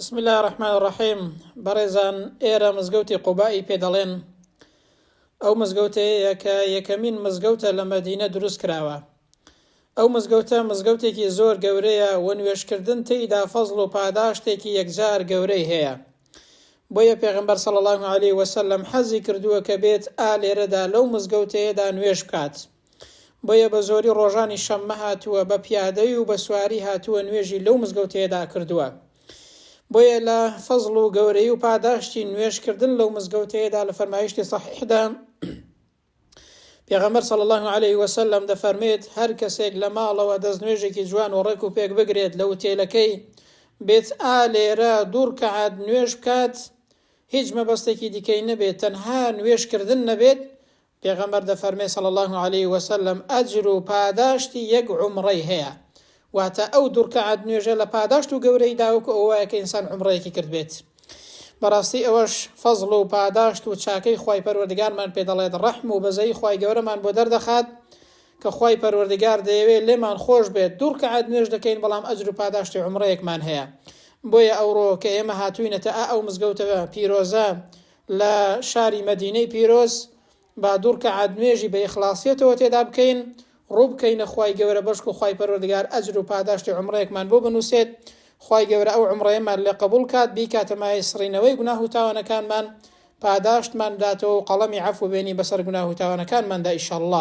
بسم اللە الرحمن الرحیم بەڕێزان ئێرە مزگەوتی قوباء ی پێ دەڵێن ئەو مزگەوتەیەیە کە یەکەمین مزگەوتە لە مەدینە دروست کراوە ئەو مزگەوتە مزگەوتێکی زۆر گەورەیە و نوێژ کردن تێیدا فەزڵ و پاداشتێکی یەکجار گەورەی هەیە بۆیە پێغەمبەر صلی اللە علیە وسلم حەزی کردووە کە بێت ئا لێرەدا لەو مزگەوتەیەدا نوێژ بکات بۆیە بە زۆری ڕۆژانی شەممە هاتووە بە پیادەی و بە سواری هاتووە نوێژی لەو مزگەوتەیەدا کردووە. بۆیە لە فەزڵ و گەورەی و پاداشتی نوێژکردن لەو مزگەوتەیەدا لە فەرمایشتی صحیحدا پێغەمبەر صلی الله علیه و سلم دەفەرمێت هەر کەسێک لە ماڵەوە دەست نوێژێکی جوان و ڕێک و پێک بگرێت لە وتێلەکەی بێت ئا لێرە دوو ڕکعات نوێژ بکات هیچ مەبەستێکی دیکەی نەبێت تەنها نوێژکردن نەبێت پێغەمبەر دەفەرمێ صلی اللە علیە وسلم، ئەجر و پاداشتی یەک عومڕەی هەیە، واتە ئەو دوڕکەعات نوێژە لە پاداشت و گەورەیدا وەکو ئەوە وایە کە ئینسان عومڕەیەکی کردبێت. بەڕاستی ئەوەش فەزڵ و پاداشت و چاکەی خوای پەروەردگارمان پێ دەڵێت، ڕەحم و بەزەیی خوای گەورەمان بۆ دەردەخات کە خوای پەروەردگار دەیەوێ لێمان خۆش بێت دوڕکەعات نوێژ دەکەین بەڵام ئەجر و پاداشتی عومڕەیەکمان هەیە. بۆیە ئەوڕۆ کە ئێمە هاتووینەتە ئا ئەو مزگەوتە پیرۆزە لە شاری مەدینەی پیرۆز با دوو رکەعات نوێژی بە ئیخڵاسیەتەوە تێدا بکەین، روو بکەینە خوای گەورە بەشکو خوای پەروەردگار ئەجر و پاداشتی عومڕەیەکمان بۆ بنووسێت، خوای گەورە ئەو عومڕەیەمان لێ قەبووڵ کات، بیکاتە مایەی سڕینەوەی گوناه و تاوانەکانمان، پاداشتمان بداتەوە و قەڵەمی عەفو بێنی بەسەر گوناه و تاوانەکانماندا ئیشەڵڵا.